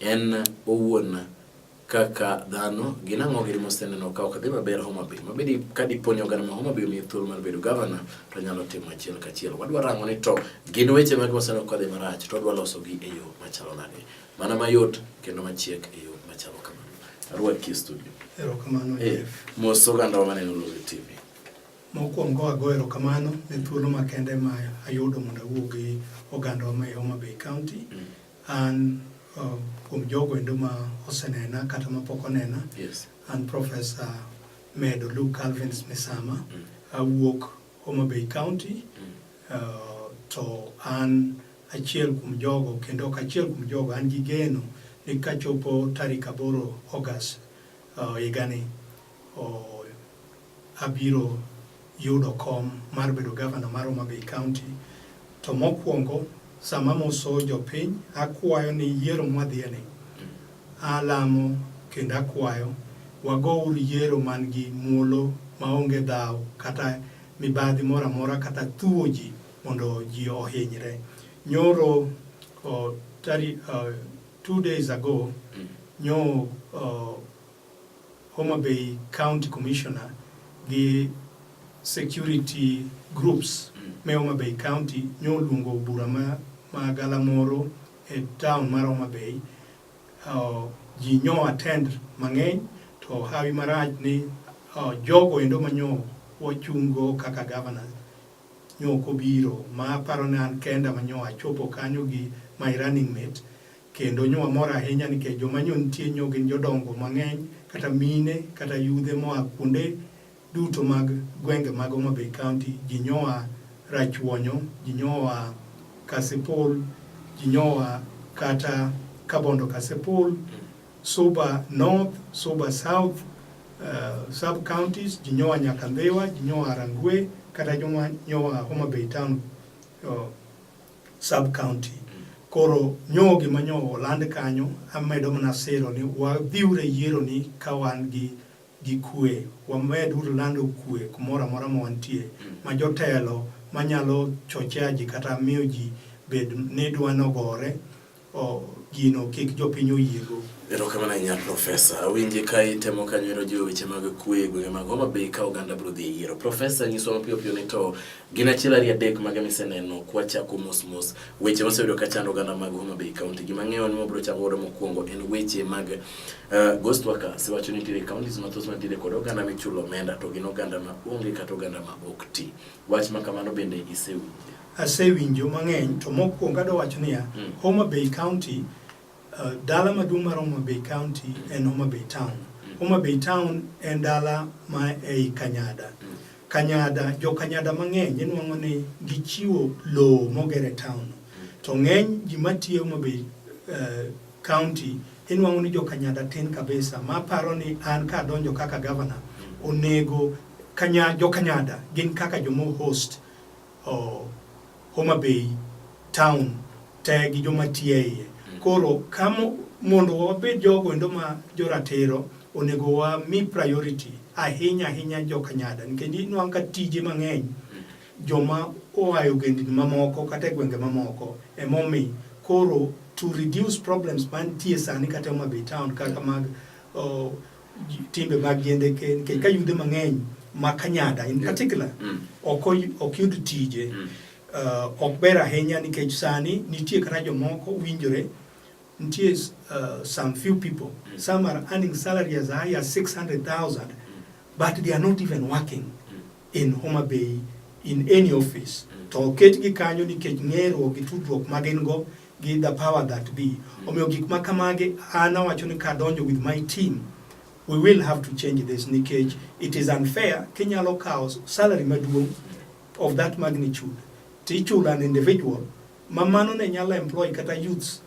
En owuon kaka dhano gin ang'o gin moseneno ka ok dhi maber Homa Bay mabedi ka dipo ni oganda ma Homa Bay omiye thuolo mar bedo gavana to nyalo timo achiel kachiel. Wadwa rango ni to gin weche mage moseneno ka dhi marach to wadwa losogi e yo machalo nade mana mayot kendo machiek e yo machalo kamano. Arwad ki studio. Erokamano eh, Jeff. Mos oganda wa maneno Lowe TV. Mokwongo ago erokamano ne thuolo makende ma ayudo mondo awuo gi oganda wa ma e Homa Bay County. Mm. An uh, kuom jogo endo ma osenena kata ma pok onena, yes. an Profesa Medo Luke Calvins Misama, mm. awuok Homa Bay County, mm. uh, to an achiel kuom jogo kendo ok achiel kuom jogo, an gi geno ni kachopo tarik aboro August uh, higani uh, abiro yudo kom mar bedo gavana mar Homa Bay County. To mokwongo sama amoso jopiny, akwayo ni yiero mwadhiyeni, alamo kendo akwayo wagouru yiero man gi muolo maonge dhaw kata mibadhi moro amora kata thuwo ji mondo ji ohinyre. Nyoro oh, tari, uh, two days ago mm. nyo uh, Homa Bay County Commissioner gi security groups mm. me Homa Bay County nyo oluongo bura ma, ma galamoro e town mar Homa Bay uh, ji nyo attend mang'eny to hawi marach ni uh, jogo endo manyo wachungo kaka governors nyo kobiro ma aparo ni an kenda manyo achopo kanyo gi my running mate Kendo nyo wamor ahinya nikech joma nyo nitie nyo gin jodongo mang'eny kata mine kata yudhe moa kuonde duto mag gwenge mag Homa Bay County. Ji nyoa Rachuonyo, ji nyoa Kasipul, ji nyoa kata Kabondo Kasipul, Suba North, Suba South, uh, sub counties, ji nyoa nyaka Ndhiwa, ji nyoa Rangwe kata joma nyoa Homa Bay Town. Uh, sub county koro nyo gima nyo oland kanyo amedo mana siro ni wadhiure yiero ni ka wan gi gi kwe wamed uru lando kwe kumoro amora ma wantie ma jotelo manyalo chochea ji kata miyo ji bed ni dwa nogore gino kik jopiny oyiego. Erokamano ahinya Profesa. Awinji ka itemo kanyo ero jiwo weche mag kwe e gwenge mag Homa Bay ka oganda biro dhi e yiero. Profesa, nyiswa mapiyo piyo ni to gin achiel ariyo adek mage miseneno kwachako mos mos weche maseyudo ka chando oganda mag Homa Bay County. Gima ang'eyo ni wabiro chako godo mokwongo en weche mag uh, ghost workers. Iwacho ni nitiere counties mathoth mantiere kod oganda michulo omenda to gin oganda ma onge kata oganda ma ok ti. Wach ma kamano bende isewinjo? Asewinjo mang'eny to mokwongo adwa wacho niya, mm. Homa Bay County, uh, dala maduong' mar Homa Bay County en Homa Bay Town. Mm. Homa Bay Town en dala ma ei Kanyada. Mm. Kanyada, jo Kanyada mang'eny inwang'o ni gichiwo lowo mogere town. To ng'eny ji matiyo Homa Bay uh, County inwang'o ni jo Kanyada tin kabisa ma paro ni an ka adonjo kaka governor onego kanya jo Kanyada gin kaka jomo host Homa Bay town te gi joma tiyo e iye. Mm. Koro kamo mondo wabed jogo endo ma joratiro onego wami priority ahinya ahinya jokanyada nikech inwang' ka tije mang'eny mm. joma oa e ogendni mamoko kata e gwenge mamoko emomi koro to reduce problems mantie sani kata Homa Bay town kaka mag timbe mag yiende nikech ka yudhe mang'eny ma Kanyada in particular mm. ok yud tije mm. uh, ok ber ahinya nikech sani nitie kata jomoko winjore nitie uh, some few people mm. some are earning salary as high as 600,000 but they are not even working in Homa Bay in any office mm. to oketgi kanyo nikech ng'eruok gi tudruok ma gin go gi the power that be mm. omiyo gik ma kamage an awacho ni kadonjo with my team we will have to change this nikech it is unfair kinyalo kawo salary maduong of that magnitude tichulo an individual ma mano ne nyalo employ kata youths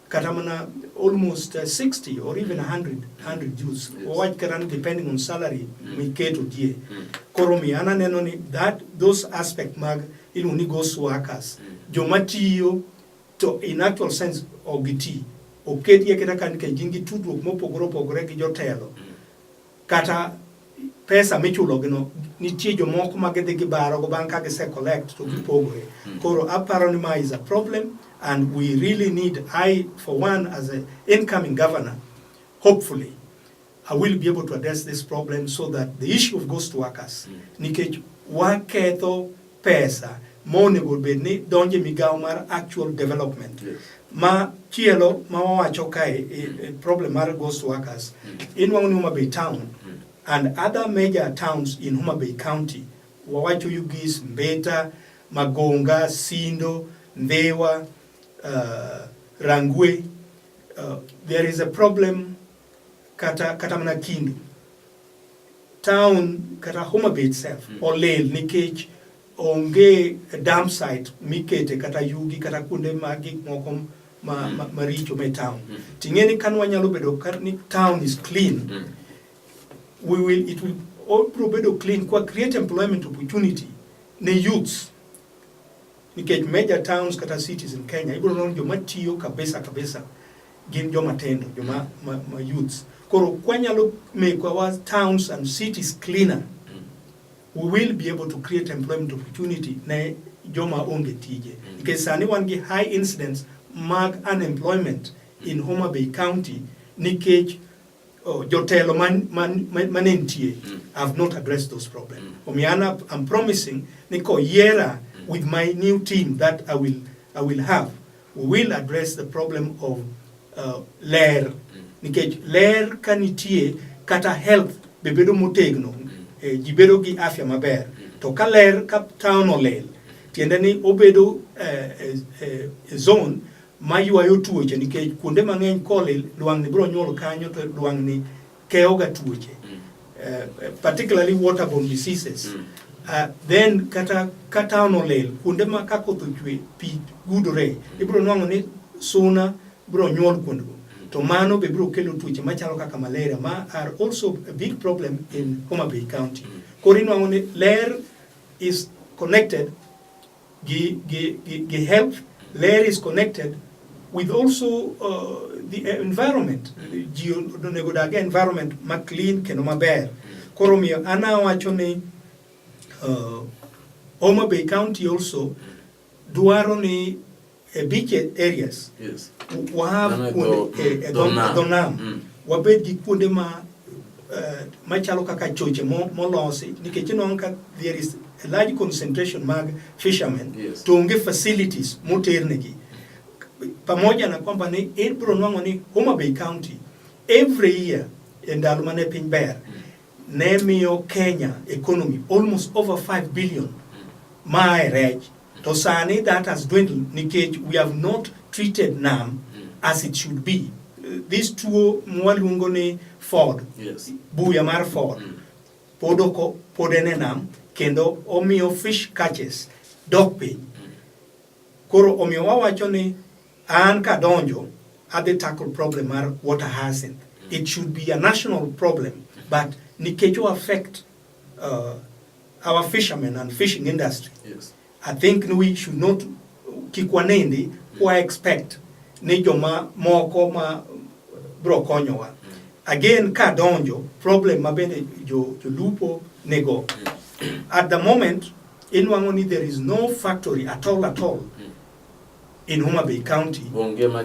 kata mana almost uh, 60 or even 100 100 Jews yes. wawach kata ni depending on salary mm. miketo die mm. koro mi an aneno ni that those aspect mag iluongo ni ghost workers mm. joma tiyo to in actual sense ok giti oketgi aketa ka nikech gin gi tudruok mopogore opogore gi jotelo mm. kata pesa michulogino nitie jomoko ma gidhi gibarogo bang' ka gise collect to gipogoe hmm. koro aparo ni ma is a problem and we really need I for one as an incoming governor hopefully I will be able to address this problem so that the issue of ghost workers hmm. nikech waketho pesa ma onego bed ni donjo e migawo mar actual development yes. ma chielo ma wawacho kae e, e, problem mar ghost workers mm. inwang'o ni Homa Bay town mm. and other major towns in Homa Bay county wawacho Ugis, Mbeta, Magonga, Sindo, Ndhewa, uh, Rangwe uh, there is a problem kata kata mana kindi town kata Homa Bay itself mm. olil nikech onge dump site mikete kata yugi kata kuonde ma gik moko ma, mm. ma, maricho me town mm. ting'e ni kanwa nyalo bedo ni town is clean mm. we will it will all pro bedo clean kwa create employment opportunity ne youths nikech major towns kata cities in Kenya ibiro nono joma tiyo kabisa kabisa gin joma tindo joma ma, ma youths koro kwanyalo make our towns and cities cleaner we will be able to create employment opportunity ne joma onge tije nikech sani wan gi high incidence mag unemployment in Homa Bay County nikech Oh, jotelo man, man, man, man entie mm. have not addressed those problems. Mm. Omiana, I'm promising niko yera mm. with my new team that I will, I will have, we will address the problem of uh, ler. Mm. Nikech ler kanitie kata health bebedo motegno, mm. eh, ji bedo gi afya maber. Mm. To ka ler ka town olel, tiende ni obedo eh, eh, eh, zone maywayo tuoche nikech kuonde mang'eny kolil lwang'ni biro nyuol kanyo to lwang'ni keyoga tuoche mm. eh, eh, particularly waterborne diseases mm. uh, then kata ka town olil kuonde ma ka koth ochwe pi gudore mm. ibiro nwang'o ni suna biro nyuol kuondego mm. to mano be biro kelo tuoche machalo kaka malaria ma are also a big problem in Homa Bay County mm. koro inwang'o ni ler is connected Gi, gi, gi, gi health, ler is connected with also uh, the environment. Ji onego odag environment ma clean kendo maber. Koro miyo an awacho ni uh, Homa Bay County also dwaro ni e beach areas yes. wa have kuonde e, e dho nam mm. wabed gi kuonde ma uh, machalo kaka choche molosi nikech inongo ka there is a large concentration mag fishermen yes. to onge facilities moternegi pamoja na kwamba ni ibro nwang'o ni Homa Bay County every year e ndalo mane piny ber mm. ne miyo Kenya economy almost over 5 billion mae rech to sani that has dwindled nikech we have not treated nam as it should be this tuo mwaluongo ni ford yes. buya mar ford mm. pod oko pod en e nam kendo omiyo fish catches dok piny Koro omiyo wawacho ni an kadonjo adhi tackle problem mar water hyacinth. Mm. It should be a national problem mm-hmm. but nikech o affect uh, our fishermen and fishing industry. Yes. I think we should not kik wanendi kwa mm. expect ni joma moko ma bro konyowa. Mm. Again ka donjo problem ma bende jo, jo lupo nego. At the moment Inwang'o ni there is no factory at all at all mm. in Homa Bay County onge ma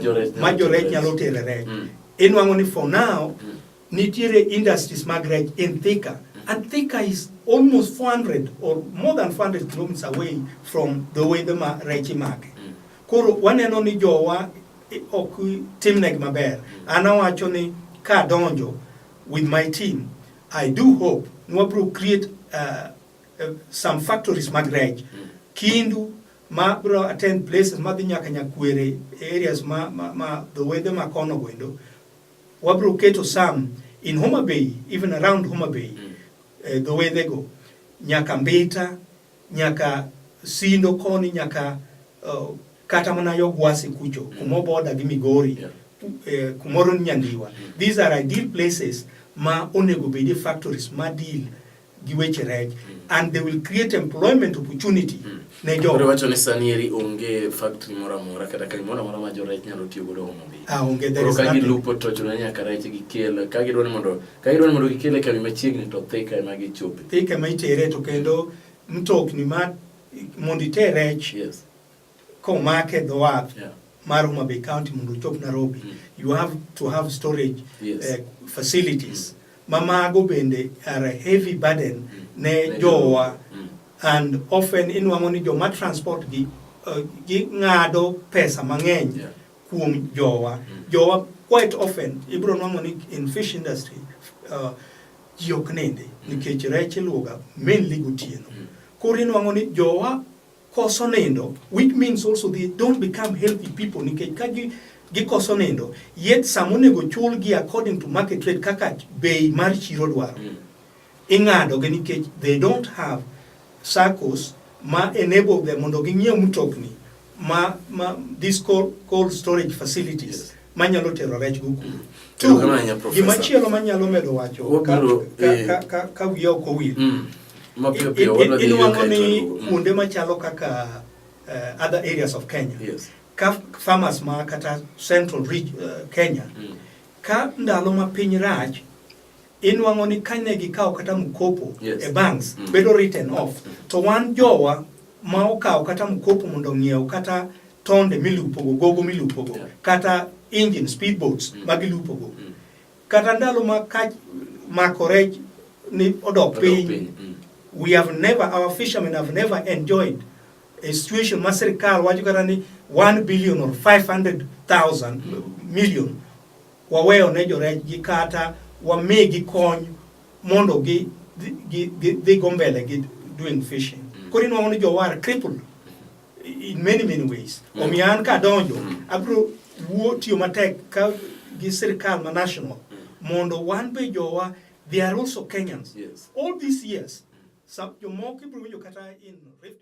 jorech nyalo tere rech. Mm. Inwang'o ni for now mm. nitiere industries mag rech in Thika mm. and Thika is almost 400 or more than 400 kilometers away from the way the ma rech imake. Mm. Koro waneno ni jowa eh, ok timnegi maber. Mm. An awacho ni ka donjo with my team I do hope ni wabro create uh, Eh, some factories mag rech mm. Kindu ma bro attend places ma dhi nyaka Nyakwere areas ma ma, ma the weather ma kono wendo wabro keto some in Homa Bay even around Homa Bay mm. uh, the way they go nyaka Mbita nyaka Sindo koni nyaka uh, kata mana yo Gwasi kucho mm. kumo border gi Migori yeah. uh, kumoro Nyandiwa mm. these are ideal places ma onego bedi factories ma deal gi weche rech and they will create employment opportunity hmm. ne jo Koro wacho ni sani eri onge factory moro amora kata kai moro amora ma jo rech nyalo tiyo godo homo bi ah onge there is nothing lupo to chuno nyaka rech gi kel ka gidwaro mondo ka gidwaro mondo gikel e kambi machiegni to thika ema gichope thika ma itere to kendo mtokni ma mondo iter rech yes komake e dho wath yeah. mar Homa Bay County mondo ochop Nairobi mm. you have to have storage yes. uh, facilities mm. ma mago bende are a heavy burden mm. ne jowa mm. and often inwang'o ni joma transport gi uh, gi ng'ado pesa mang'eny yeah. kuom jowa mm. jowa quite often ibro nwang'o ni in fish industry uh, ji ok ninde mm. nikech rech iluoga mainly gotieno mm. koro inwang'o ni jowa koso nindo which means also they don't become healthy people nikech ka gi gikoso nindo yet sama onego chulgi according to market rate kaka bei mar chiro dwaro mm. ing'adogi nikech they don't have circles ma enable them mondo ging'iew mtokni ma, ma these cold, cold storage facilities yes. manyalo tero rech go kuro tu gima chielo manyalo medo wacho ka eh. wiya ok owil mm. inwang'o ni mm. kuonde machalo kaka eh, other areas of kenya ka farmers ma kata central eh, kenya mm. ka ndalo ma piny rach inwang'o ni kane gikawo kata mkopo yes. e banks mm. bedo written off to wan jowa ma okawo kata mkopo mondo ong'iew kata tonde milupogo gogo milupogo yeah. kata engine speed boats mm. ma gilupogo mm. kata ndalo ma ka mako rech ni odok piny mm. we have never our fishermen have never enjoyed a situation ma sirkal wacho kata ni 1 billion or 500,000 mm. million waweyo ne jorenjgi kata wamigi kony mondo gi dhi go mbele gi doing fishing mm. koro inwang'o ni jowar crippled in many many ways mm. omiyo an kadonjo mm. abro wuo tiyo matek ka gi sirikal ma national mondo wan be jowa they are also Kenyans yes. all these years some jomoko ibro winjo kata in Rift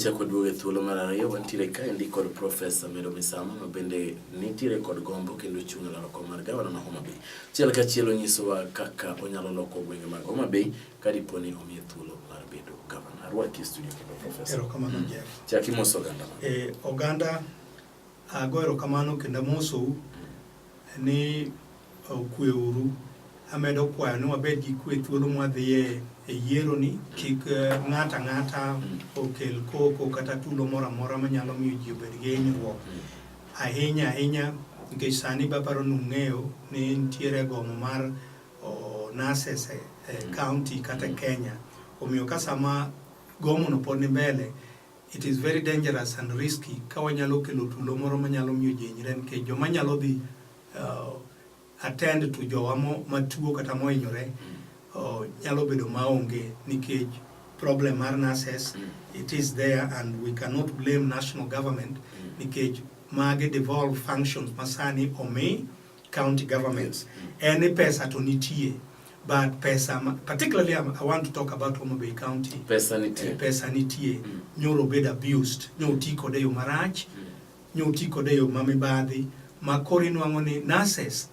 wachako duoge thuolo mar ariyo wantiere kaendi kod Profesa Medo Misama ma bende nitiere kod gombo kendo chung' e laro kom mar gavana ma Homa Bay. Chiel ka chiel onyisowa kaka onyalo loko gwenge mag Homa Bay ka dipo ni omiye thuolo mar bedo gavana. Arwaki e studio kendo profesa. Erokamano mm. Jeff. Chaki mos oganda. E, oganda ago erokamano kendo amosou ni okwe uru amedo kwayo ni wabed gi kwe thuolo mwadhiye e yiero ni kik e, ng'ato ang'ata mm. okel koko kata tulo moro amora manyalo miyo ji obed gi hinyruok mm. ahinya ahinya nikech sani baparo nung'eyo ni nitiere gomo mar o nurses e, e mm. county kata mm. Kenya omiyo ka sama gomono pod ni mbele it is very dangerous and risky ka wanyalo kelo tulo moro manyalo miyo ji hinyre nikech joma nyalo dhi uh, attend to jowa matuo kata mohinyore mm. uh, nyalo bedo maonge nikech problem mar nurses mm. it is there and we cannot blame national government mm. nikech mage devolve functions masani omi county governments en ni pesa to nitie but pesa particularly um, I want to talk about Homa Bay County pesa nitie, eh, pesa nitie. Mm. nyoro bed abused nyo ti kode yo marach mm. nyo ti kode yo mamibadhi ma koro inwang'o ni nurses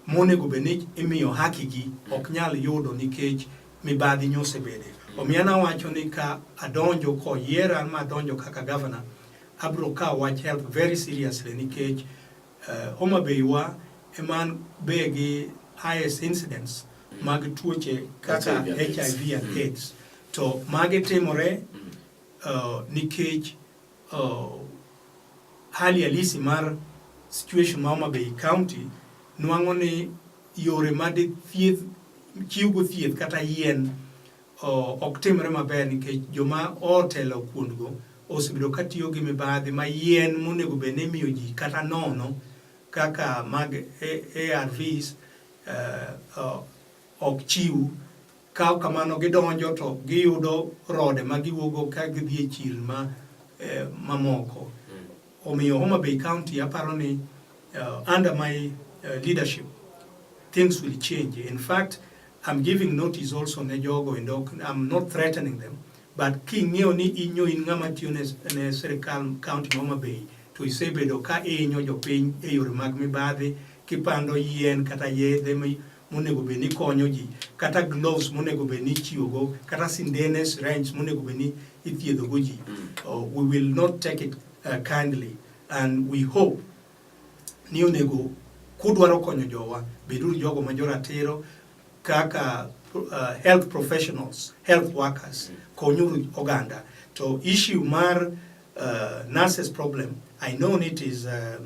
monego bed ni imiyo hakigi mm. ok nyal yudo nikech mibadhi nyosebede mm. omiyo nawacho ni ka adonjo koyiera ma adonjo kaka governor abro kawo wach health very seriously nikech mm. Homa Bay wa eman be gi highest incidence mag tuoche kaka HIV and mm. AIDS to mage timore mm. uh, nikech uh, hali halisi mar situation ma Homa Bay County nwang'o ni yore ma thieth chiwgo thieth kata yien ok timre maber nikech joma otelo kuondgo osebedo ka tiyo gi mibadhi ma yien monego bed ni imiyo ji kata nono kaka mag ARVs eh, ok chiw kaw kamano gidonjo to giyudo rode ma giwuogo ka gidhi e chirni eh, mamoko. Omiyo Homa Bay County aparo ni uh, under my uh, leadership things will change. In fact, I'm giving notice also ne jogo and I'm not threatening them. But king'eyo ni inyo in ng'ama tiyo ne, ne sirkal county Homa Bay to isebedo ka inyo jopiny e yore mag mibadhi kipando yien kata yedhe monego bed ni konyo ji kata gloves monego bed ni itiyogo kata sindene syringe monego bed ni ithiedhogo ji mm. oh, we will not take it uh, kindly and we hope ni onego kudwaro konyo jowa beduru jogo ma joratiro kaka uh, health professionals health workers mm. konyuru oganda to issue mar uh, nurses problem i know it is uh,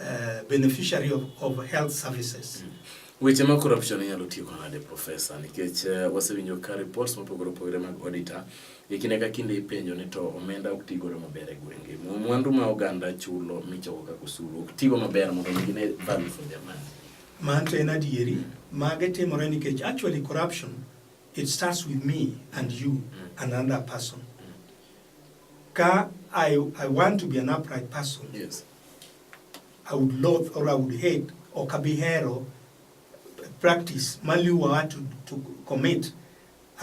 uh, beneficiary of, of health services. Mm. Weche ma corruption inyalo tieko nade profesa nikech uh, wasewinjo ka reports mopogore opogore mag auditor e kinde ka kinde ipenjo ni to omenda ok tigodo maber e gwenge mwandu ma oganda chulo michoko kaka osuru ok tigo maber mondo mi gine value for their money. Manto en adieri mm. mage timore nikech actually corruption it starts with me and you mm. and another person. Mm. Ka I, I want to be an upright person. Yes. I would loathe or I would hate or kabihero practice maliwa to, to commit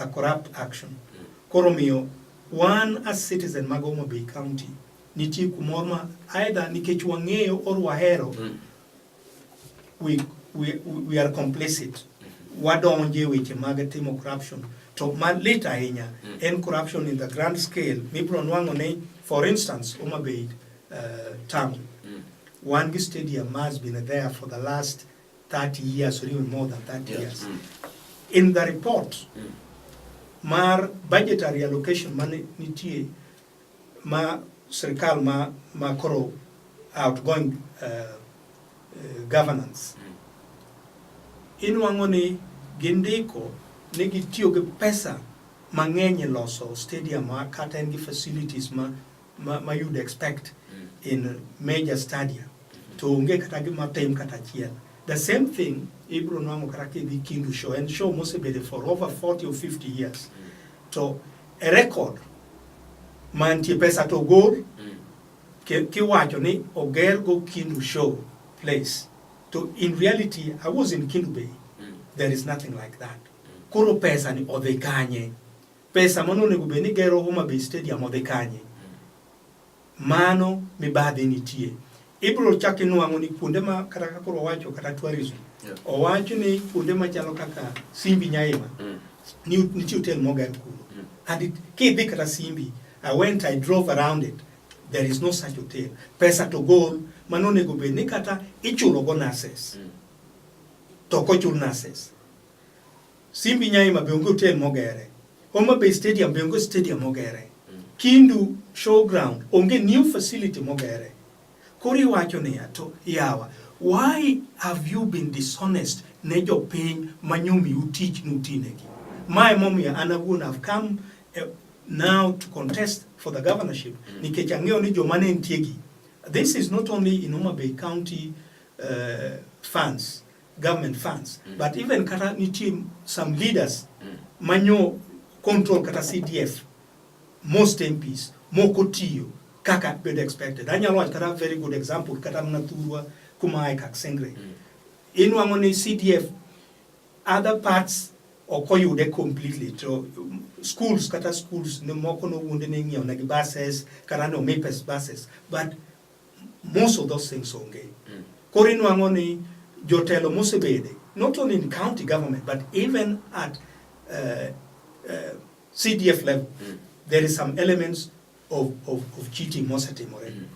a corrupt action. Koro miyo wan as citizen mag Homa Bay County nitie kumoro ma either nikech wang'eyo or wahero mm. we, we, we are complicit wadonje weche mag timo corruption to malit ahinya mm. en corruption in the grand scale mibro nwang'o ni for instance Homa Bay uh, town mm. wan gi stadium has been there for the last 30 years or even more than 30 yes. years mm. in the report mm. mar budgetary allocation mane nitie ma sirkal ma ma koro outgoing uh, uh, governance mm. inwang'o ni gindiko ni gitiyo gi pesa mang'eny e loso stadium kata en gi facilities ma ma, ma you'd expect mm. in major stadium mm-hmm. to onge kata gima tem kata achiel the same thing ibro nwang'o kata kidhi kindu show en show mosebedo for over 40 or 50 years mm. to e record mantie pesa to ogol mm. kiwacho ni oger go Kindu show place to in reality I was in Kindu Bay mm. there is nothing like that mm. koro pesa ni odhi kanye pesa mano onego bed ni gero Homa Bay Stadium odhi kanye Mano mibadhi nitie. Ibro chak inwang'o ni kuonde ma kata kaka koro owacho kata tourism. Yeah. Owacho ni kuonde machalo kaka Simbi Nyaima. Mm. Ni nitie hotel moger kuno. Mm. And it, kidhi kata Simbi, I went, I drove around it. There is no such hotel. Pesa to goal, mano nego bed ni kata ichulo go nurses. Mm. To kochul nurses. Simbi Nyaima be onge hotel mogere. Homa Bay Stadium be onge stadium mogere. Kindu Showground onge new facility mogere. Koro iwacho niya to yawa why have you been dishonest ne jopiny manyomiu tich nutinegi? Mae momiyo an awuon have come uh, now to contest for the governorship mm. nikech ang'eyo ni joma ne ntiegi this is not only in Homa Bay County uh, funds government funds mm. but even kata nitie some leaders mm. manyo control kata CDF most MPs moko tiyo kaka bedo expected anyalo wacho kata very good example kata mna thurwa kuma ae kak sengre mm. inwang'o ni CDF other parts ok oyude completely to schools kata schools ne moko nowuonde ne ing'iewo negi buses kata ne omi pes buses but Most of those things onge. Mm. Koro inwang'o ni jotelo mosebede not only in county government but even at uh, uh, CDF level mm. there is some elements of, of, of cheating mosetimore. Mm.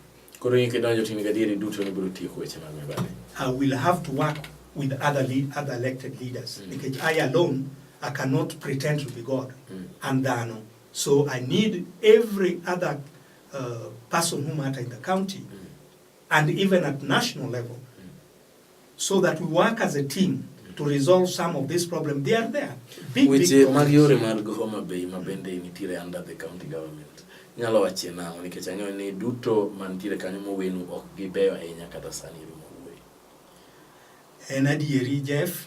Koro in kidonjo to in gadieri duto ni biro tieko weche mag mibadhi. I will have to work with other lead, other elected leaders mm. because I alone I cannot pretend to be God mm. and dhano so I need every other uh, person who matter in the county mm. and even at national level mm. so that we work as a team to resolve some of this problem they are there big, which big eh, mariore mar Homa Bay mabende nitiere under the county government nyalo wache nang'o nikech ang'eyo ni duto mantiere kanyo mowenu ok gibeyo ahinya kata sani rumo wuoyi en adieri Jeff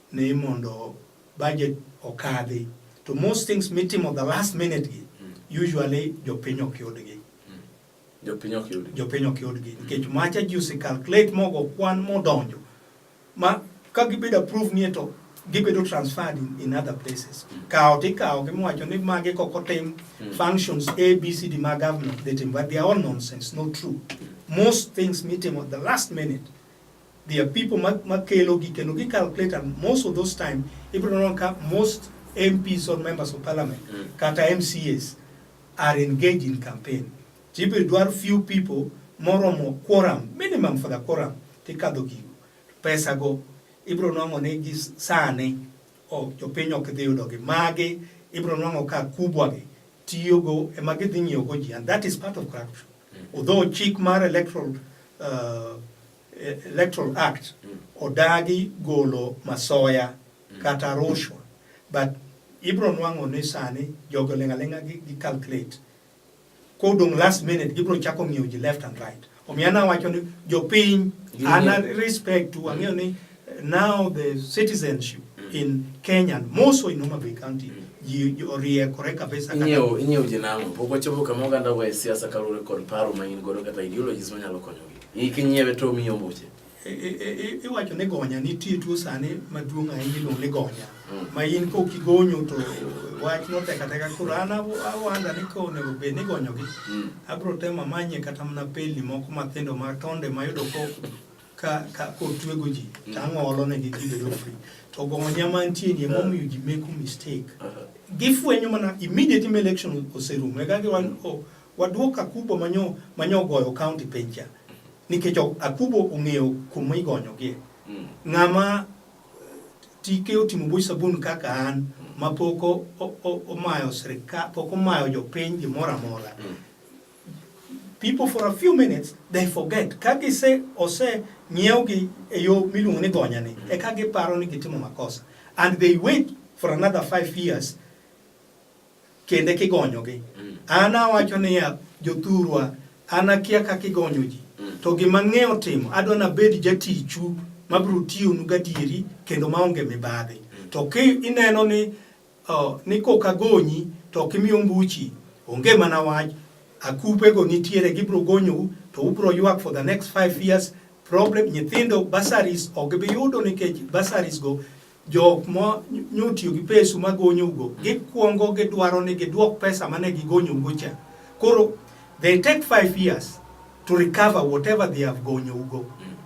ni mondo budget okadhi to most things mitimo the last minute gi mm. usually jopiny ok yudgi mm. jopiny ok yudgi jopiny ok yudgi nikech macha ji ose calculate mogo kwan modonjo ma ka gibedo approve nie to gibedo transferred in, in other places mm. kawo to ikawo gimiwacho ni magi kok otim mm. functions a b c d ma government they tim but they are all nonsense not true most things mitimo the last minute There are people makelogi kendo gi calculate and most of those time ibro neno ka most MPs or members of parliament mm. kata MCAs are engaged in campaign. Jibe dwar few people moromo quorum minimum for the quorum tikadho gigo. Pesa go ibro nwango ni gi sane o jopiny ok dhi yudo gi magi ibro nwango ka kubwa gi tiyo go ema gidhi ng'iyo go ji and that is part of corruption. Although chik mar electoral, uh, e, electoral act mm. odagi golo masoya mm. kata rushwa but ibro nwang'o ni sani jogo ling'aling'a gi, gi calculate kodong last minute gibro chako ng'iyo ji left and right omiyo anawacho ni jopiny ana respect tu ang'eyo ni Now the citizenship mm. in Kenya, more so in Homa Bay County, ji oriekore kabisa kata inyo inyo jinango pok wachopo kama oganda wa siasa kaluwore kod paro ma in godo kata ideologies manyalo konyogi iki nyiewe to miyo mbuche e, e, e, iwacho ni gonya nitie tuo sani maduong' ahinya iluongo ni gonya mm. ma in kok igonyo to wach notekateka koro an awanda ni ka onego bed ni igonyogi mm. abiro temo amanye kata mana pelni moko mathindo ma tonde mayudo ko ka ka kotwego ji mm. to ang'olo ne gi gibedo free to gonya mantie ni emomiyo ji make mistake uh-huh. gifwenyo mana immediate ma election oserumo eka giwan mm. oh, waduok akubo manyo manyo goyo county pencha nikech akubo ong'eyo kuma igonyogie mm. ng'ama tike otimo buch sabun kaka an mapok omayo sirikal pok omayo jopiny gimoro amora people for a few minutes they forget ka gise ose ng'iewgi e yo miluongo ni gonya ni e ka giparo ni gitimo makosa and they wait for another five years kende kigonyogi mm. an awacho niya jothurwa an akia kaka igonyo ji mm. to gima ng'eyo timo adwa nabed jatichu mabiro tiyonu gadieri kendo maonge mibadhi mm. to ki ineno ni Oh, ni koka gonyi to ok imi ombuchi. Onge mana wach. Akupe go nitiere gibro gonyou to ubro ywak for the next five years. Problem nyithindo bursaries ok gibi yudo nikech bursaries go jok mo nyotiyo gi pesu ma gonyou go gikwongo gidwaro ni gidwok pesa mane gigonyou go cha. Koro they take five years to recover whatever they have gonyou go.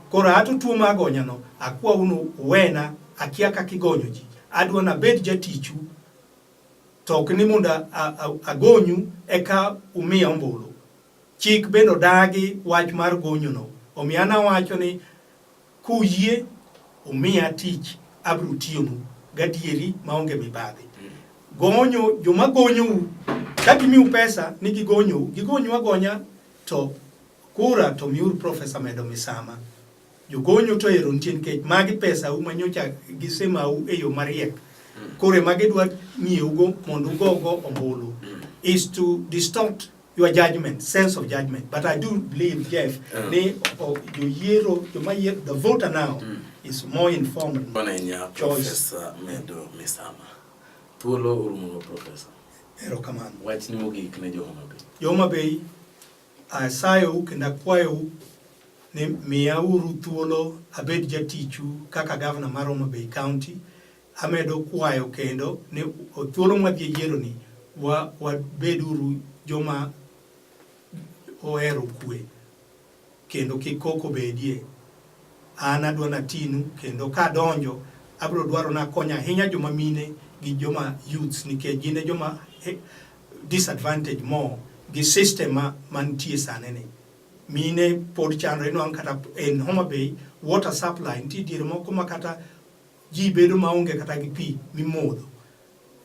Koro ato tuo ma agonyano akwa unu wena akia kakigonyo ji. Adwa nabed jatichu to ok ni mondo agonyu eka umiya ombulu. Chik bende odagi wach mar gonyono. Omiyo an awacho ni kuyie umiya tich abiro tiyonu gadieri maonge mibadhi. Gonyo joma gonyou ka gimiu pesa ni gigonyou, gigonyu agonya to kura to miuru Profesa Medo Misama. Jogonyo to ero nitie nikech magi pesau ma nyocha gisemau e yo mariek. Mm. Koro ema gidwa ng'iewugo mondo ugogo ombulu. Mm. Is to distort your judgment, sense of judgment. But I do believe, Jeff, uh. ni oh, joyiero, joma yiero, the voter now mm. is more informed. Bwana inya, Professor Medo Misama. Thuolo urumo, Professor. Erokamano. Wachni mogik ne jo Homa Bay. Jo Homa Bay Asayou kendo akwayou ni miyauru thuolo abed jatichu kaka gavana mar Homa Bay County. Amedo kwayo kendo ni thuolo mwadhi e yieroni wabeduru joma ohero kwe kendo kik koko bedie. An adwa natinu kendo kadonjo abiro dwaro nakonya ahinya joma mine gi joma youths nikech gin e joma disadvantage more gi system ma mantie sani ni mine pod chandre inwang' kata en Homa Bay water supply nitie diere moko ma kata ji bedo maonge kata gi pi mimodho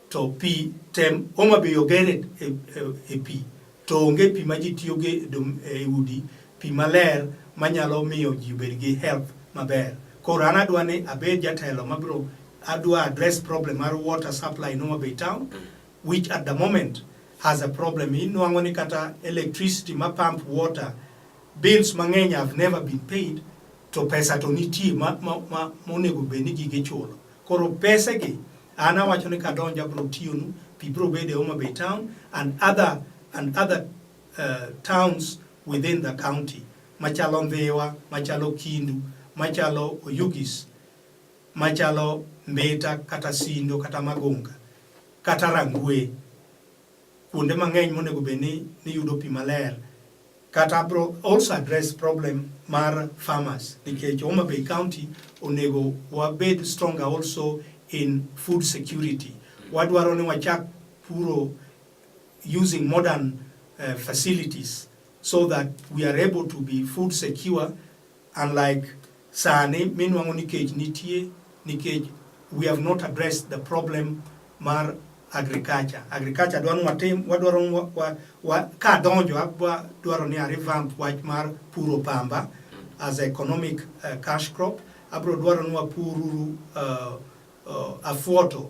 to pi tem Homa Bay ogere e, e, e pi to onge pi ma ji tiyogo e udi pi maler manyalo miyo ji obed gi health maber koro an adwa ni abed jatelo mabiro adwa address problem mar water supply in Homa Bay town which at the moment has a problem. Inwang'o ni kata electricity ma pump water bills mang'eny have never been paid to pesa to nitie ma ma ma monego bed ni gige chulo. Koro pesa gi an awacho ni kadonja bro tiyonu pi bro bede Homa Bay town and other and other uh, towns within the county machalo Ndhiwa, machalo Kindu, machalo Oyugis machalo mbita kata sindo kata magunga kata rangwe kuonde mang'eny monego bed ni niyudo pi maler kata bro also address problem mar farmers nikech Homa Bay County onego wabed stronger also in food security wadwaro ni wachak puro using modern uh, facilities so that we are able to be food secure Unlike sani minwang'o ni kech nitie nikech we have not addressed the problem mar agriculture. Agriculture dwaro watim wadwaro wa, wa, wa, ka donjo dwaro ni arevamp wach mar puro pamba as economic uh, cash crop abro dwaro ni wapururu uh, uh, afuoto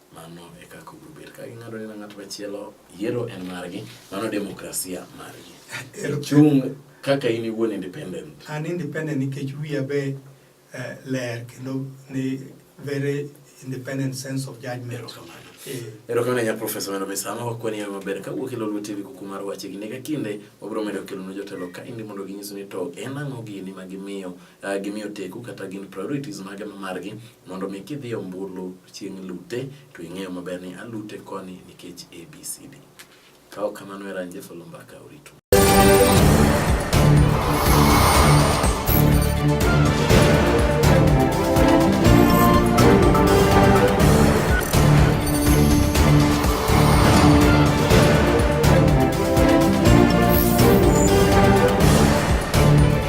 Mano e kaka obiro bedo. Ka ging'ado ni na ng'at machielo, yiero en margi, mano demokrasia margi. Ichung' kaka in iwuon independent. An independent nikech wiya be eh, ler kendo ni very independent sense of judgment. Erokamano. Eh, Erokamano ahinya Profesa Wendo Misama, wakwani yawe maber ka wuok e Lolwe TV kuku mar wache gi nega kinde wabiro medo kelonu jotelo ka indi mondo ginyisu ni to en ang'o gini ma gimiyo uh, gimiyo teku kata gin priorities mage ma margi mondo mi kidhi ombulu chieng' lute to ing'eyo maber ni alute koni nikech ABCD. Kao kamano era nje folo mbaka uritu.